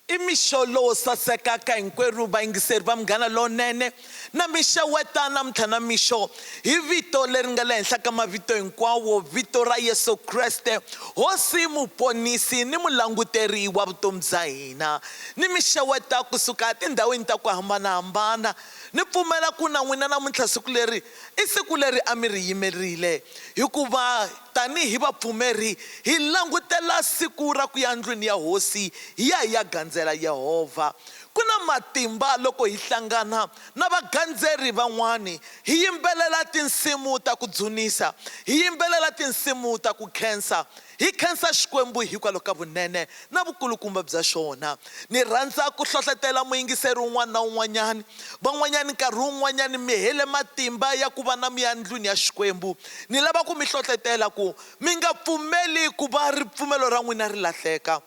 I mixo lowo saseka ka hinkwerhu vayingiseri va Munghana Lowunene. Na mi xeweta namuntlha na mixo hi vito leri nga le henhla ka mavito hinkwawo, vito ra Yesu Kreste, Hosi, Muponisi ni Mulanguteri wa vutomi bya hina. Ni mi xeweta ku suka etindhawini ta ku hambana-hambana. Ni pfumela ku na n'wina namuntlha siku leri I siku leri a mi ri yimerile, hikuva tanihi vapfumeri hi langutela siku ra ku ya ndlwini ya Hosi hi ya hi ya gandzela Yehovha. Ku na matimba loko hi hlangana na vagandzeri van'wana, hi yimbelela tinsimu ta ku dzunisa, hi yimbelela tinsimu ta ku khensa, Hi khensa Xikwembu hikwalaho ka vunene na vukulukumba bya xona. Ni rhandza ku hlohlotela muyingiseri un'wana na un'wanyana. Van'wanyana nkarhi wun'wanyana mi hele matimba ya ku va na miya endlwini ya Xikwembu. Ni lava ku mi hlohlotela ku mi nga pfumeli ku va ripfumelo ra n'wina ri lahleka.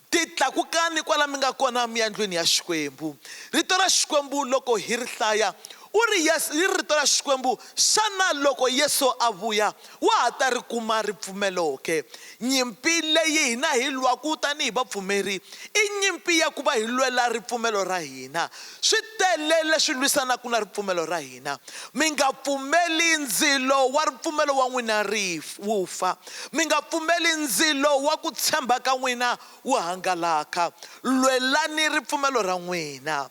Ti tlakukani kwala mi nga kona mi ya ndlwini ya Xikwembu. Rito ra Xikwembu loko hi ri hlaya, u ri, Yesu, yi ri Rito ra Xikwembu, xana loko Yesu a vuya, wa ha ta ri kuma ripfumelo ke? Nyimpi leyi hina hi lwaku tanihi vapfumeri, i nyimpi ya ku va hi lwela ripfumelo ra hina. Swi tele leswi lwisanaku na ripfumelo ra hina. Mi nga pfumeli ndzilo wa ripfumelo wa n'wina ri, wu fa. Mi nga pfumeli ndzilo wa ku tshemba ka n'wina wu hangalaka. Lwelani ripfumelo ra n'wina.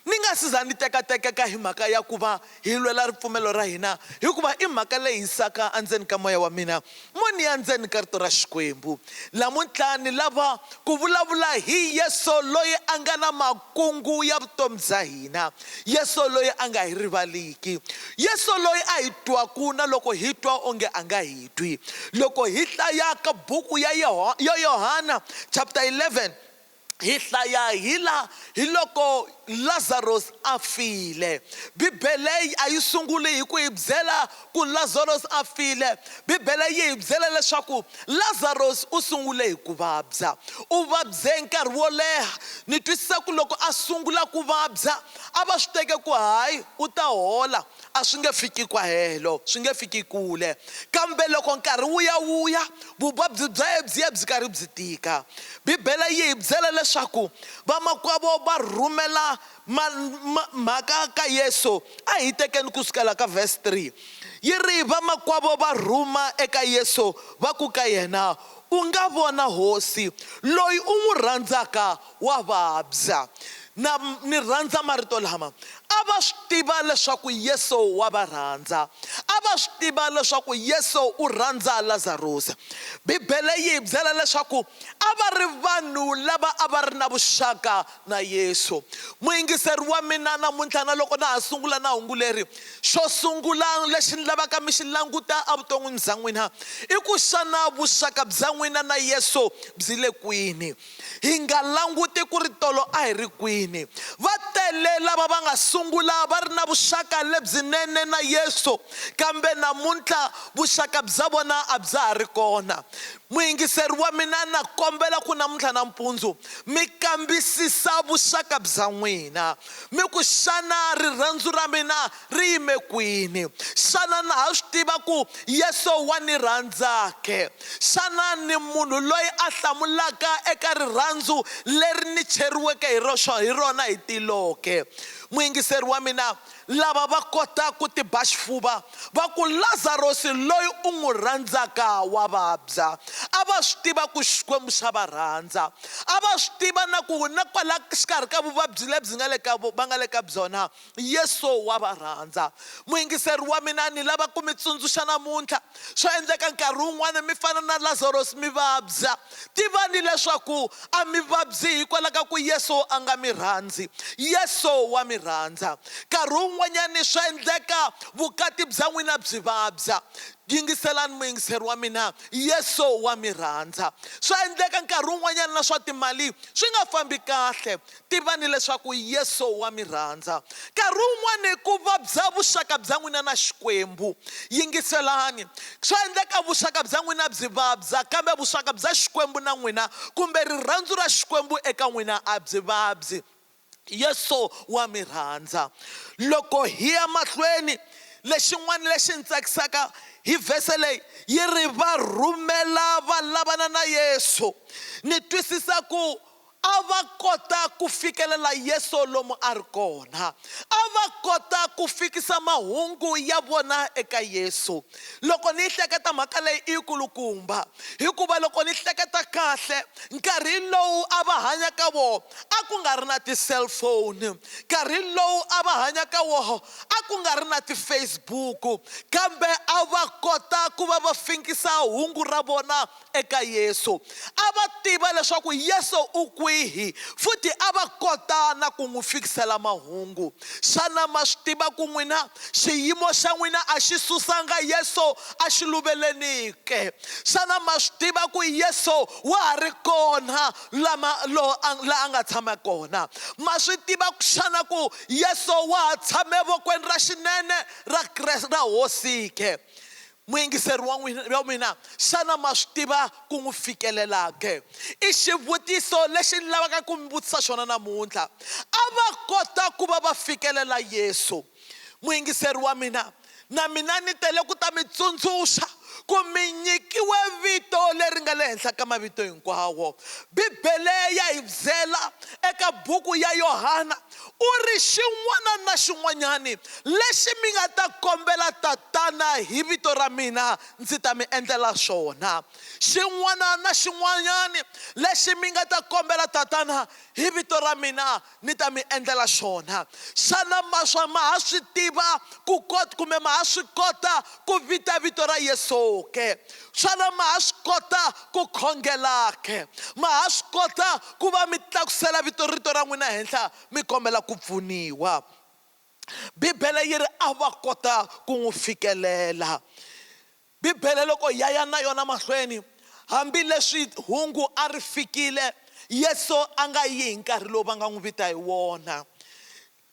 Ni nga si za ni tekatekeka hi mhaka ya ku va hi lwela ripfumelo ra hina, hikuva i mhaka leyi hisaka endzeni ka moya wa mina mo ni ya ndzeni ka Rito ra Xikwembu. Lamuntlha ni lava ku vulavula hi Yesu loyi a nga na. Kungu ya vutomi bya hina, Yesu loyi a nga hi rivaliki, Yesu loyi a hi twaku na loko hi twa onge a nga hi twi. Loko hi hlayaka buku ya ya Yohana chapter 11, hi hlaya hi la hi loko Lazaros a file. Bibele a yi sunguli hi ku hi byela Ku Lazaros a file, Bibele yi hi byela leswaku Lazaros u sungule hi ku vabya. U vabye nkarhi wo leha. Ni twisisa ku loko a sungula ku vabya, a va swi teke ku hayi u ta hola, a swi nge fiki kwahelo, swi nge fiki kule. Kambe loko nkarhi wu ya wu ya, vuvabyi bya yena byi ya byi karhi byi tika. Bibele yi hi byela leswaku vamakwavo va rhumela Ma, ma, mhaka ka Yesu, a hi tekeni ku sukela ka verse 3, yi ri, Vamakwavo va rhuma eka Yesu, va ku ka yena, U nga vona, Hosi, loyi u n'wi rhandzaka wa vabya. Na, ni rhandza marito lama. A va swi tiva leswaku Yesu wa va rhandza. A va swi tiva leswaku Yesu u rhandza Lazarusa. Bibele yi hi byela leswaku a va ri vanhu lava a va ri na vuxaka Na Yesu. Muyingiseri wa mina namuntlha na loko na ha sungula na hungu leri, xo sungula lexi ni lavaka mi xi languta evuton'wini bya n'wina i ku xana vuxaka bya n'wina na Yesu byi le kwini. Hi nga languti ku ri tolo a hi ri kwini. Va tele lava va nga sungula va ri na vuxaka lebyinene na Yesu kambe namuntlha vuxaka bya vona a bya ha ri kona. Muyingiseri wa mina na kombela ku namuntlha nampundzu mi kambisisa vuxaka bya n'wina, mi ku, Xana rirhandzu ra mina ri yime kwini? Xana na ha swi tiva ku Yesu wa ni rhandza ke? Xana ni munhu loyi a hlamulaka eka rirhandzu leri ni cheriweke hi rona hi tilo ke? Muyingiseri wa mina, lava va kota ku tiba xifuva va ku, Lazarosi loyi u n'wi rhandzaka wa vabya. A va swi tiva ku Xikwembu xa va rhandza. A va swi tiva na ku na kwala xikarhi ka vuvabyi lebyi nga le ka va nga le ka byona, Yesu wa va rhandza. Muyingiseri wa mina, ni lava ku mi tsundzuxa namuntlha, Swa endleka nkarhi wun'wana mi fana na Lazaros, mi vabya. Tivani leswaku a mi vabyi hikwalaho ka ku Yesu a nga mi rhandzi. Yesu wa mi rhandza. Nkarhi wun'wanyana swa endleka vukati bya n'wina byi vabya. Yingiselani muyingiseri wa mina, Yesu wa mi rhandza. Swa endleka nkarhi wun'wanyana na swa timali swi nga fambi kahle. Tivani leswaku Yesu wa mi rhandza. Nkarhi wun'wana ku vabya vuxaka bya n'wina na Xikwembu. Yingiselani. Swa endleka vuxaka bya n'wina byi vabya, kambe vuxaka bya Xikwembu na n'wina kumbe rirhandzu ra Xikwembu eka n'wina a byi vabyi. Yesu wa mi rhandza. Loko hi ya mahlweni, lexin'wana lexi ni tsakisaka hi vhese leyi yi ri, Va rhumela va lavana na Yesu. Ni twisisa ku A va kota ku fikelela Yesu lomu a ri kona. A va kota ku fikisa mahungu ya vona eka Yesu. Loko ni yi hleketa mhaka leyi i yikulukumba, hikuva loko ni hleketa kahle, nkarhi lowu a va hanya ka wona a ku nga ri na ti-cellphone, nkarhi lowu a va hanya ka wona a ku nga ri na ti-Facebook, kambe a va kota ku va va fikisa hungu ra vona eka Yesu. A va tiva leswaku Yesu u kwihi futhi a va kota na ku n'wi fikisela mahungu. Xana ma swi tiva ku n'wina xiyimo xa n'wina a xi susanga Yesu exiluvelweni ke? Xana ma swi tiva ku Yesu wa ha ri kona lama lo a la a nga tshama kona? Ma swi tiva xana ku Yesu wa ha tshame vokweni ra xinene ra ra Hosi ke? Muyingiseri wa n'wina, wa mina, xana ma swi tiva ku n'wi fikelela ke? I xivutiso lexi ni lavaka ku mi vutisa xona namuntlha. A va kota ku va va fikelela Yesu. Muyingiseri wa mina, na mina ni tele ku ta mi tsundzuxa ku mi nyikiwe vito leri nga le henhla ka mavito hinkwawo. Bibele ya hi byela eka buku ya Yohana U ri, Xin'wana na xin'wanyani lexi mi nga ta kombela Tatana hi vito ra mina, ndzi ta mi endlela xona. Xin'wana na xin'wanyani lexi mi nga ta kombela Tatana hi vito ra mina, ni ta mi endlela xona. Xana ma swa ma ha swi tiva ku kumbe ma ha swi kota Ku vita vito ra Yesu-ke, xana ma ha swi kota ku khongela-ke? Ma ha swi kota ku va mi tlakusela vito rito ra n'wina henhla mi kombela ku pfuniwa? Bibele yi ri, A va kota ku n'wi fikelela. Bibele loko ya ya na yona mahlweni, hambileswi hungu a ri fikile, Yesu a nga yi hi nkarhi lowu va nga n'wi vita hi wona.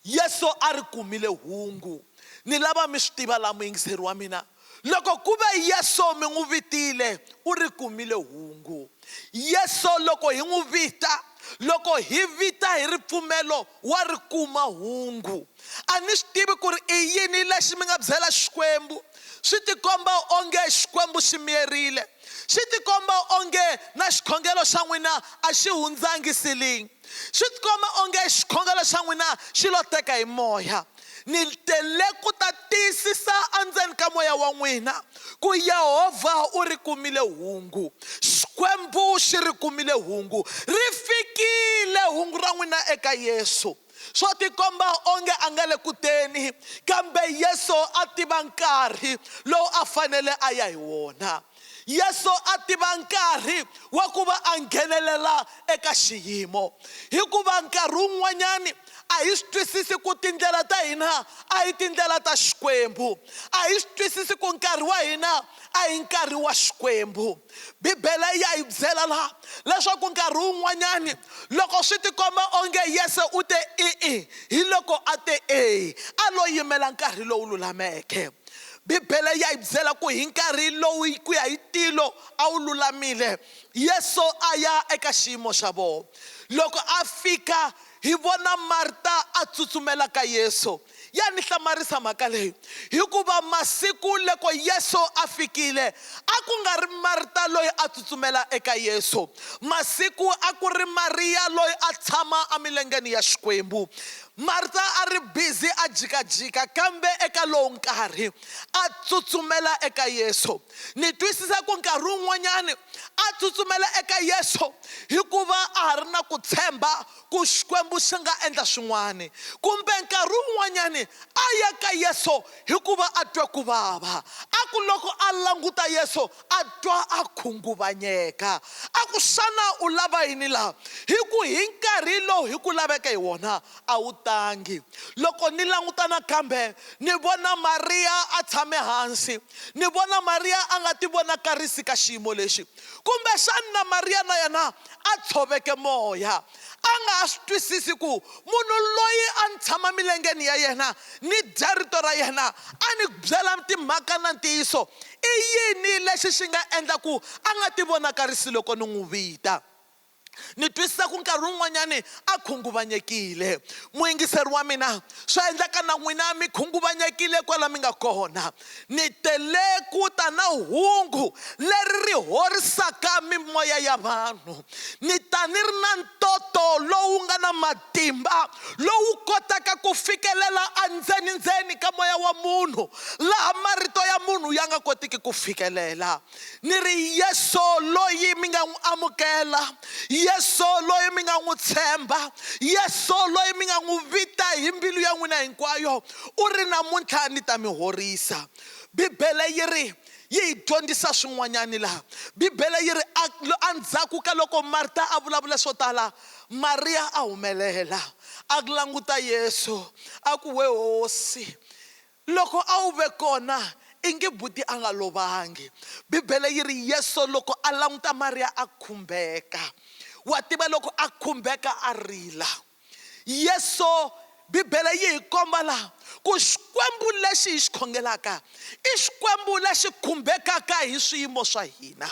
Yesu a ri kumile hungu, Ni lava mi swi tiva laha muyingiseri wa mina. Loko ku ve Yesu mi n'wi vitile, u ri kumile hungu. Yesu loko hi n'wi vita, loko hi vita hi ripfumelo, wa ri kuma hungu. A ni swi tivi ku ri i yini lexi mi nga byela Xikwembu. Swi tikomba onge Xikwembu xi miyerile. Xi tikomba onge na xikhongelo xa n'wina a xi hundzangi siling. Swi tikomba onge xikhongelo xa n'wina xi lo teka hi Moya. Ni te le ku ta tiyisisa endzeni ka moya wa n'wina ku Yehovha u ri kumile hungu. Xikwembu xi ri kumile hungu. Ri fikile hungu ra n'wina eka Yesu. Swo tikomba onge a nga le ku teni, kambe Yesu a tiva nkarhi lowu a fanele a ya hi wona. Yesu a tiva nkarhi wa ku va a nghenelela eka xiyimo. Hikuva nkarhi wun'wanyana a hi swi twisisi ku tindlela ta hina a hi tindlela ta Xikwembu. A hi swi twisisi ku nkarhi wa hina a hi nkarhi wa Xikwembu. Bibele ya hi byela la leswaku nkarhi wun'wanyana loko swi tikomba onge Yesu u te i-i, hi loko a te e, a lo yimela nkarhi lowu lulameke. Bibele ya hi byela ku hi nkarhi lowu ku ya hi tilo a wu lulamile, Yesu a ya eka xiyimo xa vona. Loko a fika, hi vona Marta a tsutsumela ka Yesu. Ya ni hlamarisa mhaka leyi, hikuva masiku loko Yesu a fikile a ku nga ri Marta loyi a tsutsumela eka Yesu. Masiku a ku ri Mariya loyi a tshama emilengeni ya Xikwembu. Marta a ri bizi a jikajika, kambe eka lowu nkarhi a tsutsumela eka Yesu. Ni twisisa ku nkarhi wun'wanyana a tsutsumela eka Yesu hikuva a ha ri na ku tshemba ku Xikwembu xi nga endla swin'wana. Kumbe nkarhi wun'wanyana a ya ka Yesu hikuva a twe ku vava. A ku loko a languta Yesu A twa a khunguvanyeka. A ku, Xana u lava yini laha? Hi ku, hi nkarhi lowu hi ku laveke hi wona, a wu tangi. Loko ni languta nakambe, ni vona Mariya a tshame hansi. Ni vona Mariya a nga tivonakarisi ka xiyimo lexi. Kumbexana Mariya na yena a tshoveke moya. a nga ha swi twisisi ku munhu loyi a ni tshama milengeni ya yena ni dya rito ra yena a ni byela timhaka na ntiyiso i yini lexi xi nga endla ku a nga ti vonakarisi loko ni n'wi vita ni twisisa ku nkarhi wun'wanyani a khunguvanyekile muyingiseri wa mina swa endleka na n'wina mi khunguvanyekile kwala mi nga kona Ni tele ku ta na hungu leri ri horisaka mimoya ya vanhu. Ni ta ni ri na ntoto lowu nga na matimba lowu kotaka ku fikelela endzeni-ndzeni ka moya wa munhu, laha marito ya munhu ya nga kotiki ku fikelela. ni ri yesu loyi mi nga n'wi amukela yesu loyi mi nga n'wi tshemba yesu loyi mi nga n'wi vita hi mbilu ya n'wina hinkwayo u ri namuntlha ni ta mi horisa bibele yi ri yi hi dyondzisa swin'wanyani laha bibele yi ri endzhaku ka loko marta a vulavula swo tala mariya a humelela a languta yesu a ku we hosi Loko a wu ve kona, ingi buti a nga lovangi. Bibele yi ri, Yesu loko a languta Mariya a khumbeka. Wa tiva loko a khumbeka a rila. Yesu, Bibele yi hi komba laha ku Xikwembu lexi hi xi khongelaka i Xikwembu lexi khumbekaka hi swiyimo swa hina.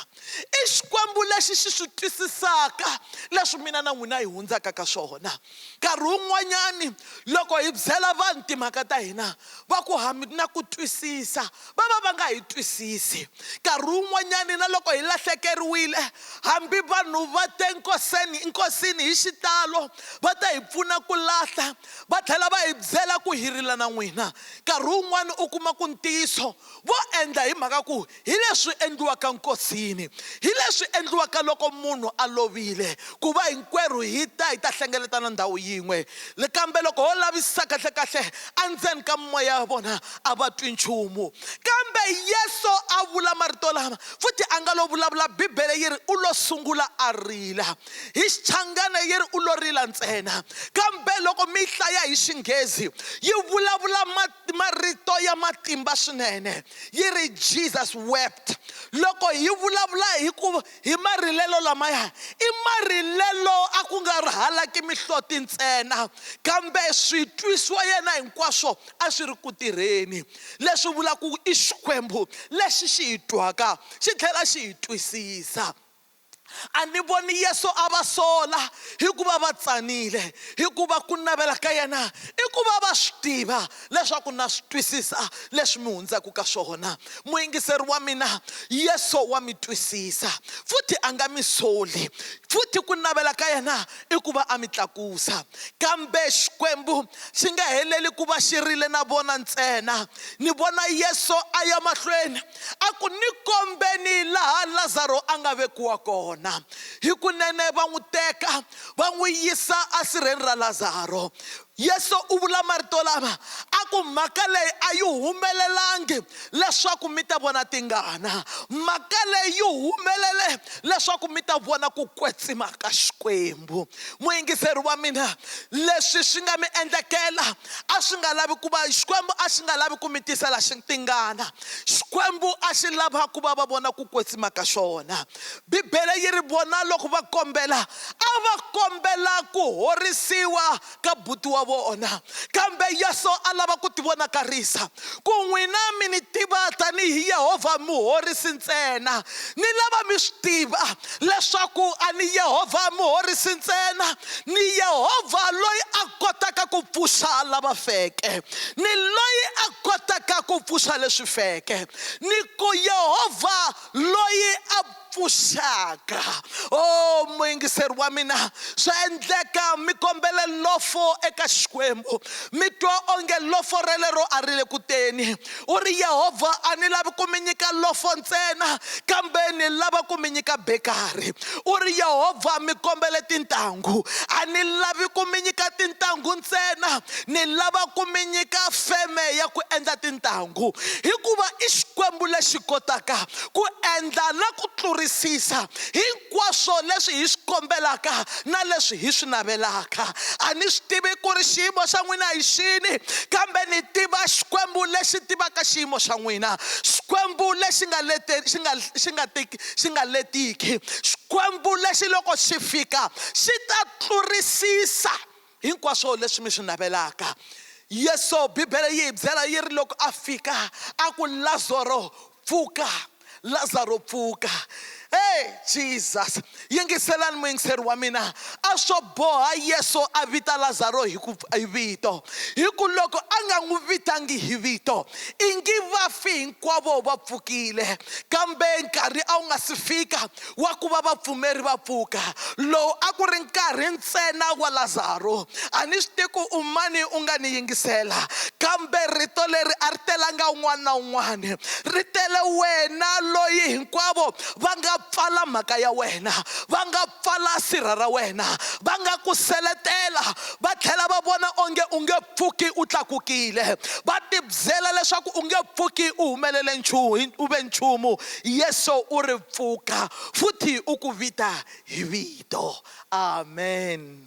I Xikwembu lexi xi swi twisisaka leswi mina na n'wina hi hundzaka ka swona. Nkarhi wun'wanyani loko hi byela vanhu timhaka ta hina va ku ha mi na ku twisisa va va va nga hi twisisi. Nkarhi wun'wanyani na loko hi lahlekeriwile hambi vanhu va te nkoseni nkosini hi xitalo va ta hi pfuna ku lahla va tlhela va hi byela ku hi rila na n'wina. Nkarhi wun'wani u kuma ku ntiyiso vo endla hi mhaka ku hi leswi endliwaka nkosini, hi leswi endliwaka loko munhu a lovile, ku va hinkwerhu hi ta hi ta hlengeletana ndhawu yin'we. Kambe loko ho lavisisa kahle-kahle, endzeni ka mimoya ya vona a va twi nchumu. Kambe Yesu a vula marito lama, futhi a nga lo vulavula, Bibele yi ri, U lo sungula a rila. Hi Xichangana yi ri, U lo rila ntsena. Kambe loko mi yi hlaya hi Xinghezi, yi vulavula marito ya matimba swinene yi ri jesus wept loko hi vulavula hi ku hi marilelo lamaya i marilelo a ku nga ri halaki mihloti ntsena kambe swi twisiwa yena hinkwaswo a swi ri ku tirheni leswi vulaka ku i xikwembu lexi xi hi twaka xi tlhela xi hi twisisa A ni voni Yesu a va sola hi ku va va tsanile, hikuva ku navela ka yena i ku va va swi tiva leswaku na swi twisisa leswi mi hundzaka ka swona. Muyingiseri wa mina Yesu wa mi twisisa, futhi a nga mi soli, futhi ku navela ka yena i ku va a mi tlakusa. Kambe Xikwembu xi nga heleli ku va xi rile na vona ntsena. Ni vona Yesu a ya mahlweni a ku, Ni kombeni laha Lazaro a nga vekiwa kona. Hikunene va n'wi teka va n'wi yisa asirheni ra Lazaro. Yesu u vula marito lama a ku, Mhaka leyi a yi humelelangi leswaku mi ta vona tingana. Mhaka leyi yi humelele leswaku mi ta vona ku kwetsima ka Xikwembu. Muyingiseri wa mina, leswi swi nga mi endlekela a swi nga lavi ku va Xikwembu a xi nga lavi ku mi tisela tingana. Xikwembu a xi lava ku va va vona ku kwetsima ka xona. Bibele yi ri vona loko va kombela, a va kombela ku horisiwa ka buti wa vona. Kambe Yesu a lava ku tivonakarisa ku n'wina mi ni tiva tanihi Yehovha muhorisi ntsena. Ni lava mi swi tiva leswaku a ni Yehovha muhorisi ntsena, ni Yehovha loyi a kotaka ku pfuxa lava feke ni loyi a kotaka ku pfuxa leswi feke ni ku Yehovha loyi a pfuxaka o oh, muyingiseri wa mina swa endleka mi kombele lofo eka xikwembu mi twa onge lofo relero a ri le ku teni U ri, Yehovha, a ni lavi ku mi nyika lofo ntsena, kambe ni lava ku mi nyika bekari. U ri, Yehovha, mi kombele tintangu. A ni lavi ku mi nyika tintangu ntsena, ni lava ku mi nyika feme ya ku endla tintangu, hikuva i Xikwembu lexi kotaka ku endla na ku tlurisisa hi Hinkwaswo leswi hi swi kombelaka na leswi hi swi navelaka. A ni swi tivi ku ri xiyimo xa n'wina hi xini, kambe ni tiva Xikwembu lexi tivaka xiyimo xa n'wina, Xikwembu lexi nga lete, xi nga, xi nga ti, xi nga letiki, Xikwembu lexi loko xi fika xi ta tlurisisa. Hinkwaswo leswi mi swi navelaka. Yesu, Bibele yi hi byela yi ri, loko a fika, a ku, Lazaro, pfuka! Lazaro, pfuka! He, Jesus! Yingiselani muyingiseri wa mina. A swo boha Yesu a vita Lazaro hi ku, hi vito. Hi ku loko a nga n'wi vitangi hi vito, i ngi vafi hinkwavo va pfukile. Kambe nkarhi a wu nga si fika. wa ku va vapfumeri va pfuka lowu a ku ri nkarhi ntsena wa lazaro a ni swi tiku u mani u nga ni yingisela kambe rito leri a ri telanga un'wana na un'wana ri tele wena loyi hinkwavo va nga pfala mhaka ya wena va nga pfala sirha ra wena va nga ku seletela va tlhela va vona onge u nge pfuki u tlakukile va tibyela leswaku u nge pfuki u humelele nchumu u ve nchumu Yesu u ri pfuka futhi u ku vita hi vito. Amen.